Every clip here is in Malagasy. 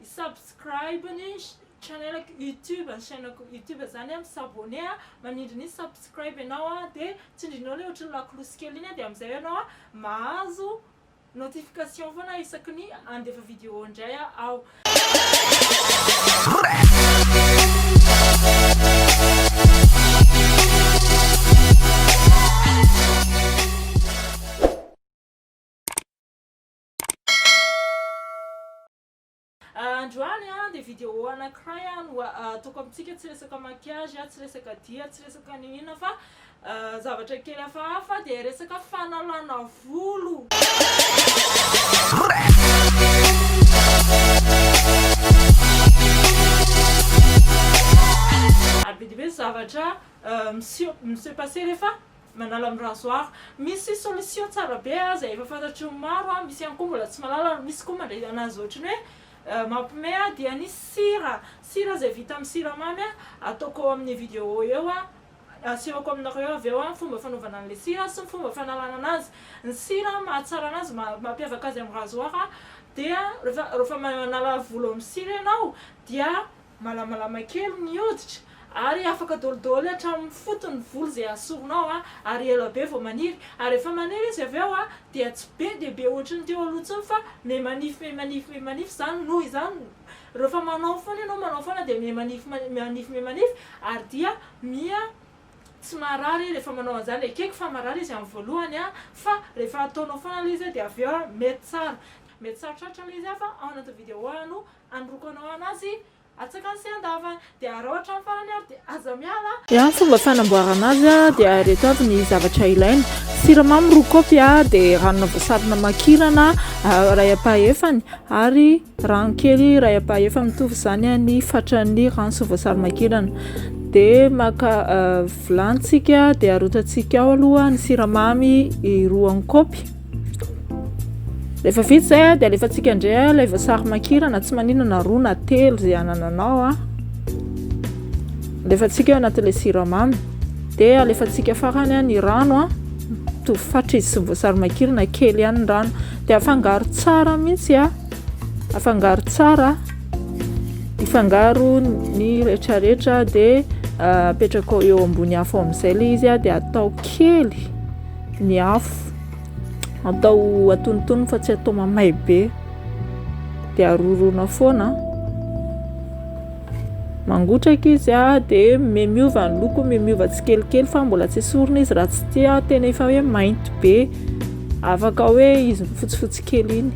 I subscribe ny channelako youtube ny chainako youtube zany a mi s'abonner a manindry ny subscribe ianao a de tsindrinao le ohatry ny lakolosy kely iny a de amizay ianao a mahazo notification foana isaky ny andefa video indray aho. Androany an dia video anakiray an no ataoko amintsika tsy resaka maquillage an tsy resaka dia tsy resaka ny inona fa zavatra kely hafahafa dia resaka fanalana volo ary be dia be ny zavatra miseho mi se passer rehefa Manala am rasoir. Misy solution tsara be a zay efa fantatry ny maro a, misy ihany koa mbola tsy mahalala ary misy koa mandray anazy ohatriny hoe mampime a dia ny sira, sira zay vita amin'ny siramamy a, ataoko eo amin'ny video eo a, asehoko aminareo eo avy eo a, ny fomba fanaovana an'ilay sira sy ny fomba fanalana anazy. Ny sira mahatsara anazy, maha mampiavaka azy amin'ny rasoir dia rehefa rehefa manala volo amin'ny sira ianao dia Malamalama kely ny hoditra ary afaka dolidoly hatramin'ny fotony ny volo izay asorinao ary ela be vao maniry ary rehefa maniry izy avy eo dia tsy be dia be ohatry ny teo aloha intsony fa miha manify miha manify miha manify izany noho izany rehefa manao foana ianao manao foana dia miha manify manify miha manify ary dia miha tsy marary rehefa manao an'izany, ekeko fa marary izy amin'ny voalohany fa rehefa ataonao foana ilay izy dia avy eo mety tsara, mety sarotrarotra ilay izy fa ao anatin'ny vidéo no Anoroako anao anazy atsakany sy andavany. Dia araho hatramin'ny farany ary dia aza miala. Raha ny fomba fanamboarana azy dia ireto avy ny zavatra ilaina, siramamy roa kaopy, dia ranona voasary namakirana iray ampahefany ary rano kely iray ampahefa mitovy izany ny fatran'ny rano sy voasary makirana. Dia maka vilany isika dia arotsaktsika ao aloha ny siramamy roa kaopy. Rehefa vita izay dia alefantsika indray ilay voasary makirana, tsy manina na roa na telo izay anananao. Alefantsika eo anatin'ilay siramamy. Dia alefantsika farany ny rano, mitovy fatra izy sy ny voasary makirana, kely ihany ny rano. Dia afangaro tsara mihitsy, afangaro tsara, ifangaro ny rehetrarehetra dia ah, apetrakao eo ambony afo amin'izay ilay izy dia atao kely. Ny afo atao atonontonony fa tsy atao mamay be dia aroroana foana mangotraka izy dia miova ny loko miova tsikelikely fa mbola tsy esorina izy raha tsy tia tena efa hoe mainty be afaka hoe izy fotsifotsy kely iny.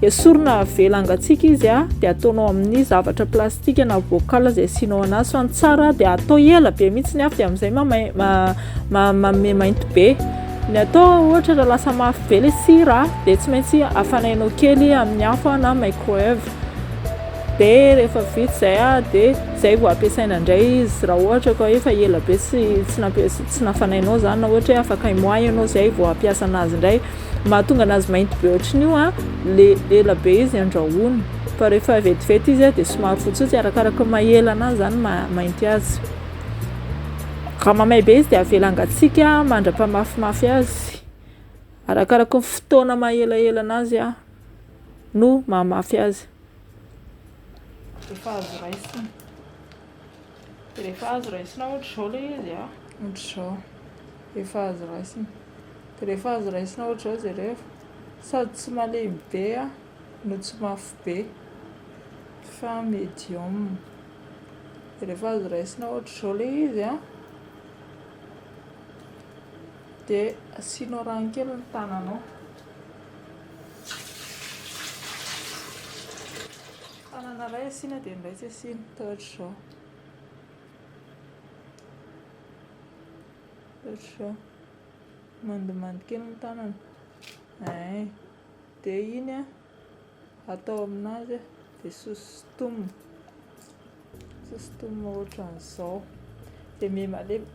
Esorina avela hangatsiaka izy a, dia ataonao amin'ny zavatra plastika na bocal izay asianao anazy fa ny tsara dia atao ela be mihitsy ny afo dia amin'izay mamay ma, ma, manome mainty be. Ny atao ohatra raha lasa mafy be ilay sira dia tsy maintsy afanainao kely amin'ny afo na microwave. Dia rehefa vita izay a dia izay vao ampiasaina indray izy raha ohatra ka efa ela be tsy tsy nampiasa tsy nafanainao izany na ohatra hoe afaka un mois ianao izay vao hampiasa anazy indray. mahatonga anazy mainty be ohatran' io an, le ela be izy andrahoina, fa rehefa vetivety izy an dia somary fotsifotsy, arakaraka ny maha ela anazy zany no maha mainty azy, raha mamay be izy dia avela hangatsiaka mandra-pahamafimafy azy, arakaraka ny fotoana maha elaela anazy an no maha mafy azy. Rehefa azo raisina, rehefa azo raisina ohatra izao le izy an, ohatra izao, rehefa azo raisina. Dia rehefa azo raisina ohatr'izao izay rehefa, sady tsy malemy be no tsy mafy be fa medium, dia rehefa azo raisina ohatr'izao ilay izy an, dia asianao rano kely ny tananao, tanana iray asiana dia ny iray tsy asiana, dia ohatr'izao. Zao, mandomando kely ny tanana, eeh, dia iny an, atao aminazy an, dia sosotomina, sosotomina ohatran'izao, dia miha-malemy,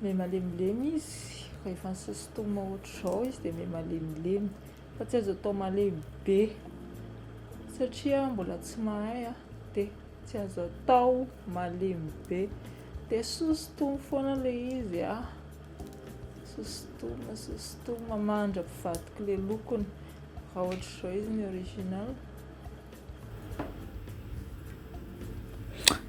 miha-malemilemy izy, rehefa nisosotomina ohatr'izao izy dia miha-malemilemy, fa tsy azo atao malemy be satria mbola tsy mahay an, dia. Tsy azo atao malemy be. Dia sosotomy foana ilay izy a. Sosotomy, sosotomy mandra-pivadika ilay lokony. Raha ohatr'izao izy ny original.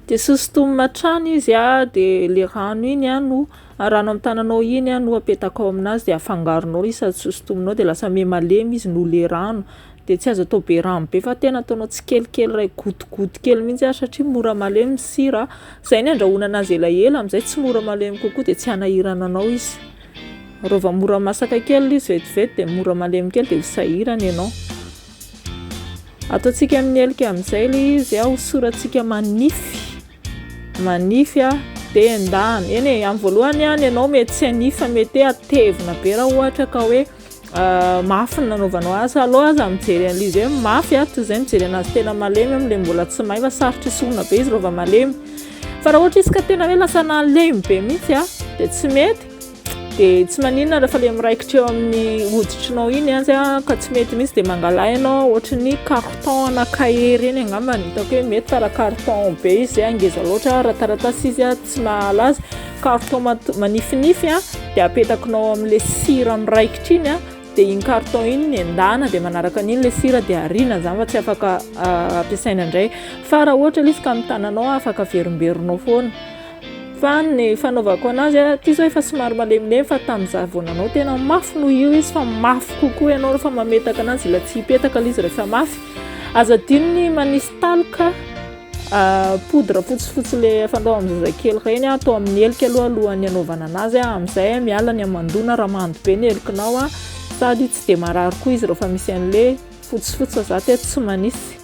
Dia sosotomy hatrany izy a, dia ilay rano iny a no rano amin'ny tananao iny a no apetakao aminazy dia afangaronao izy sady sosotominao dia lasa miha malemy izy noho ilay rano. dia tsy azo atao be rano be fa tena ataonao tsikelikely iray gotigoty kely mihitsy ary satria mora malemy ny sira izay ny andrahoana anazy elaela amin'izay tsy mora malemy kokoa dia tsy hanahirana anao izy raha vao mora masaka kely ilay izy vetivety dia mora malemy kely dia ho sahirana ianao ataontsika amin'ny helika amin'izay ilay izy aho hosorantsika manify manify aho dia endahana eny e amin'ny voalohany ihany ianao mety tsy hanify fa mety hatevina be raha ohatra ka hoe mafy ny nanaovanao azy alou aza mijery an'izy hoe mafy ato izay mijery anazy tena malemy amin'ilay mbola tsy may fa sarotra isorona be izy rehefa malemy fa raha ohatra izy ka tena hoe lasa nalemy be mihitsy a dia tsy mety dia tsy maninona rehefa ilay miraikitra eo amin'ny hoditrinao iny azy a ka tsy mety mihitsy dia mangala ianao ohatra ny carton ana cahier ireny angamba ny hitako hoe mety fa raha carton be izy angeza loatra raha taratasy izy a tsy nahala azy ka avy tao manifinify a dia apetakinao amin'ilay sira miraikitra iny a dia iny carton iny ny endana dia manaraka an'iny ilay sira dia ariana izany fa tsy afaka ah, ampiasaina indray fa raha ohatra ilay izy ka amin'ny tananao afaka averimberinao foana fa ny fanaovako anazy a ity izao efa somary malemilemy fa tamin'izaho vao nanao tena mafy noho io izy fa mafy kokoa ianao rehefa mametaka anazy ilay tsy hipetaka ilay izy rehefa mafy aza adino ny manisy taloka Ah, poudre fotsifotsy le fandrao amin'ny zazakely ireny ah, atao amin'ny heloka aloha alohan'ny hanaovana anazy ah, amin'izay ah, miala ny hamandoana raha mando be ny helokinao ah, sady tsy dia marary koa izy rehefa misy an'le fotsifotsy fa za teto tsy manisy.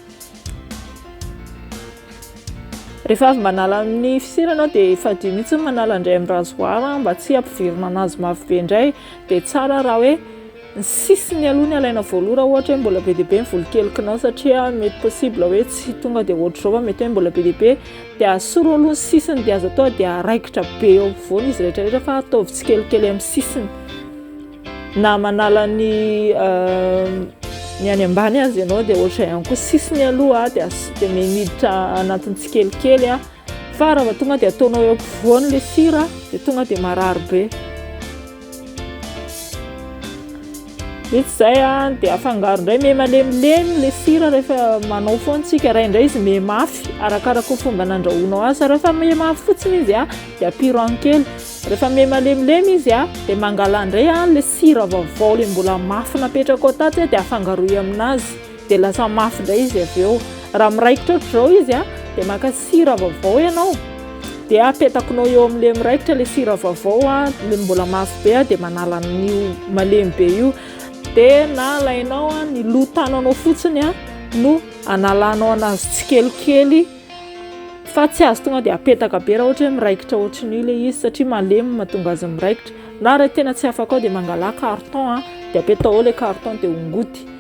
Rehefa avy manala amin'ny fisera ianao dia fadio mihitsy ny manala indray amin'ny rasoir mba tsy hampivirina anazy mafy be indray, dia tsara raha hoe ny sisiny aloha ny alaina voaloha raha ohatra hoe mbola be dia be ny volokelikinao satria mety possible hoe tsy tonga dia ohatr'izao fa mety hoe mbola be dia be dia asoro aloha ny sisiny dia azo atao dia araikitra be eo ampovoany izy rehetra rehetra fa ataovy tsikelikely amin'ny sisiny na manala ny euh, ny any ambany azy ianao dia ohatr'izay ihany koa sisiny aloha dia dia meniditra anatin'ny tsikelikely a fa raha tonga dia ataonao eo ampovoany le sira dia tonga dia marary be Vita izay dia afangaro indray me malemilemy ilay sira rehefa manao foana tsika ray indray izy me mafy arakaraka fomba nandrahoanao azy rehefa me mafy fotsiny izy a dia ampy rano kely rehefa me malemilemy izy a dia mangala indray ilay sira vaovao ilay mbola mafy napetraka ao tato dia afangaroy aminazy Dia lasa mafy indray izy avy eo. Raha miraikitra ohatr'izao izy an, dia maka sira vaovao ianao, dia apetakinao eo amin'ilay miraikitra ilay sira vaovao an, ilay mbola mafy be an, dia manala an'io malemy be io. Dia na alainao an, ny loha tananao fotsiny an, no analanao anazy tsikelikely, fa tsy azo tonga dia apetaka be raha ohatra hoe miraikitra ohatran'io ilay izy, satria malemy no mahatonga azy miraikitra. Na raha tena tsy afaka ao dia mangala carton an, dia apetaho ao ilay carton dia hongoty.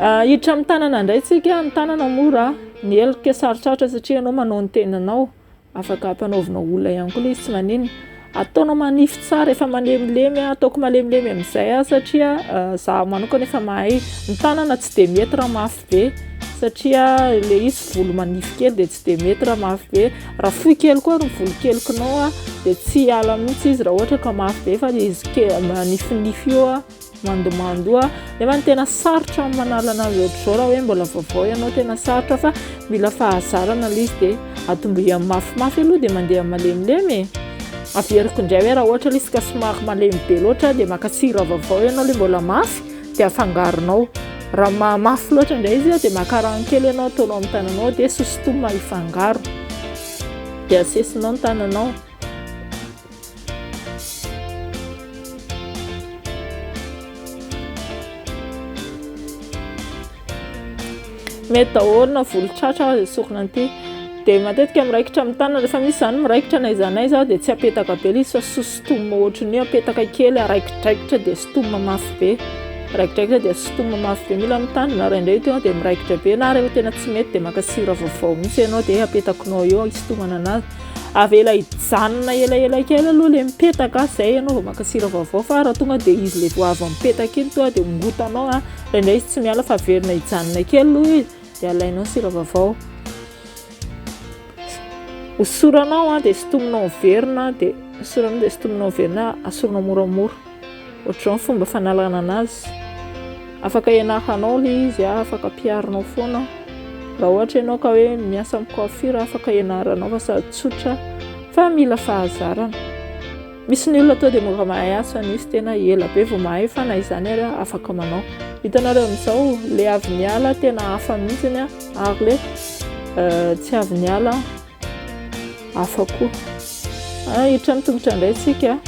Ah, hiditra amin'ny tanana indray tsika, ny tanana mora, ny helika sarotsarotra satria ianao manao ny tenanao, afaka ampanaovina olona ihany koa le izy tsy maninona, ataonao manify tsara, efa malemilemy, ataoko malemilemy amin'izay aho satria izaho manokana efa mahay, ny tanana tsy dia mety raha mafy be satria le izy volo manify kely dia tsy dia mety raha mafy be, raha fohy kely koa ary ny volokelikonao dia tsy hiala mihintsy izy raha ohatra ka mafy be fa le izy kely manifinify io a. mandomando nefa ny tena sarotra amin'ny manala an'azy ohatr'izao raha hoe mbola vaovao ianao tena sarotra fa mila fahazarana ilay izy dia atombohany mafimafy aloha dia mandeha malemilemy e averiko indray hoe raha ohatra ilay izy ka somary malemy be loatra dia maka sira vaovao ianao ilay mbola mafy dia afangaronao raha mahamafy loatra indray izy dia maka rano kely ianao ataonao amin'ny tananao dia sosintomina hifangaro dia asesinao ny tananao mety daholo na volo tratra aza sokina anty dia matetika miraikitra amin'ny tanana rehefa misy izany miraikitra na iza na iza dia tsy apetaka be ilay izy fa sositoma ohatry ny apetaka kely araikidraikitra dia sitoma mafy be raikidraikitra dia sitoma mafy be mila amin'ny tanana raha indray teo dia miraikitra be na rehefa tena tsy mety dia maka sira vaovao misy ianao dia apetakinao eo isitomana anazy avela hijanona elaela kely aloha le mipetaka zay ianao vao maka sira vaovao fa raha tonga dia izy le vao avy mipetaka iny toa dia hongotanao a raha indray izy tsy miala fa averina hijanona kely aloha izy dia alainao sira vaovao hosoranao a dia sotominao miverina dia hosoranao dia sotominao miverina asoranao moramora Ohatr'izao ny fomba fanalana anazy, afaka ianaranao ilay izy, afaka ampiharinao foana. Raha ohatra ianao ka hoe miasa amin'ny coiffure, afaka ianaranao fa sady tsotra fa mila fahazarana. Misy ny olona tonga dia mora mahay asa, misy tena ela be vao mahay fa na izany ary afaka manao. Hitanareo amin'izao, ilay avy niala tena hafa mihitsy ary ilay euh, tsy avy niala. hafa koa. Ah, hiditra ny tongotra indray tsika.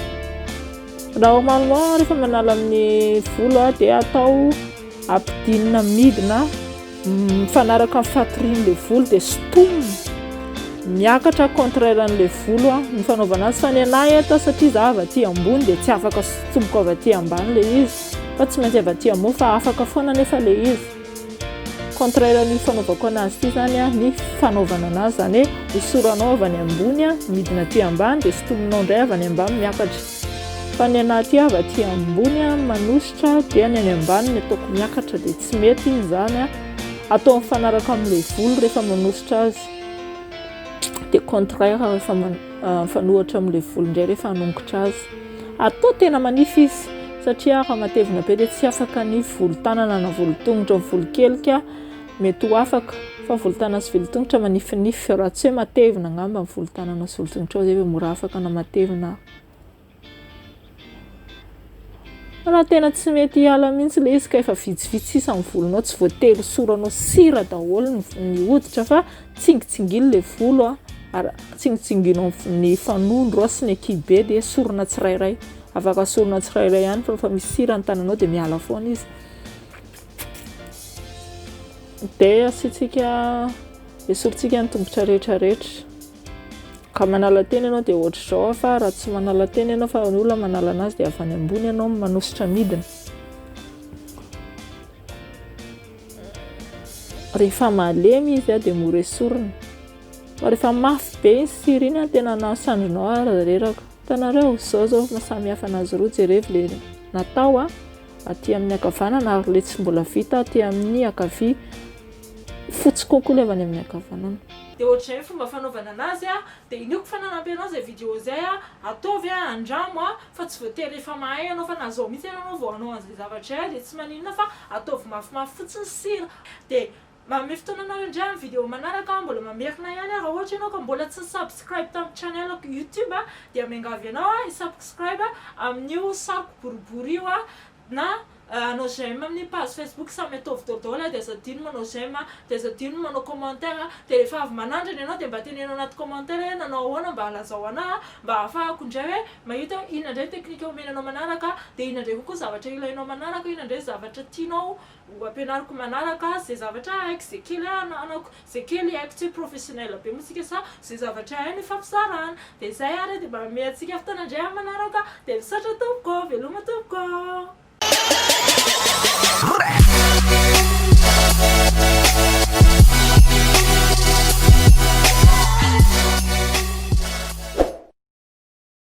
Normalement rehefa manala amin'ny volo ah, dia atao ampidinina midina mifanaraka amin'ny fatorian'ilay volo dia sintomina miakatra contraire an'ilay volo ah, ny fanaovana azy fa ny anay eto satria za avy aty ambony dia tsy afaka sotsomboka avy aty ambany ilay izy fa tsy maintsy avy aty ambony fa afaka foana anefa ilay izy Contraire an'io fanaovako anazy ity zany a, ny fanaovana anazy zany hoe hosoranao avy any ambony a, midina aty ambany dia sintominao indray avy any ambany miakatra. Fa ny anahy ity avy aty ambony a manosotra dia ny any ambany no ataoko miakatra dia tsy mety iny zany a. Atao mifanaraka amin'ilay volo rehefa manosotra azy. Dia contraire rehefa mifanohatra amin'ilay volo indray rehefa hanongotra azy. Atao tena manify izy satria raha matevina be dia tsy afaka ny volon-tanana na volon-tongotra ny volon-kelika mety ho afaka fa volon-tanana sy volon-tongotra manifinify raha tsy hoe matevina angamba ny volon-tanana sy volon-tongotra izay vao mora afaka na matevina raha tena tsy mety hiala mihitsy ilay izy ka efa vitsivitsy sisa ny volonao tsy voatery hosoranao sira daholo ny hoditra fa Tsingitsingino ilay volo ary tsingitsingino ny fanondro sy ny akibe dia esorina tsirairay. Afaka esorina tsirairay ihany fa rehefa misy sira ny tananao dia miala foana izy. Dia asiantsika, esorintsika ny tongotra rehetra rehetra. Ka manala tena ianao dia ohatr'izao fa raha tsy manala tena ianao fa ny olona manala an'azy dia avy any ambony ianao no manosotra midina. Rehefa malemy izy dia mora esorina. Fa rehefa mafy be iny sy ry iny tena nahasandorinao aho ary reraka. Hitanareo, izao izao no samihafa an'azy roa, jereo ilay natao aty amin'ny ankavanana ary ilay tsy mbola vita aty amin'ny ankavia. Fotsy kokoa ilay avy any amin'ny ankavanana. Dia ohatr'izay ny fomba fanaovana an'azy, dia iniako fa nanampy anao izay vidéo izay, ataovy, andramo, fa tsy voatery efa mahay ianao fa na zao mihitsy ary ianao vao hanao an'izay zavatra izay dia tsy maninona fa ataovy mafimafy fotsiny sira dia manome fotoana anareo indray amin'ny vidéo manaraka aho mbola mamerina ihany aho raha ohatra ianao ka mbola tsy nisubscribe tamin'ny channelako youtube dia miangavy anao hisubcscribe amin'io sariko boribory io Na hanao j'aime amin'ny page facebook samy ataovy daholo a, de aza adino manao j'aime a, de aza adino ny manao commentaire a, de rehefa avy manandrana ianao de mba teneno anaty commentaire hoe nanao ahoana mba lazao anah a, mba ahafahako indray hoe mahita hoe inona indray ny technique omeny anao manaraka, de inona indray kokoa zavatra ilainao manaraka, inona indray zavatra tianao Ho ampianariko manaraka ze zavatra haiko, ze kely ananako, ze kely haiko tsy hoe professionnel be moa tsika sa ze zavatra hainy ifampizarana. De zay ary de mba amihe antsika fotoana ndray amin'ny manaraka de misaotra tompoko, veloma tompoko.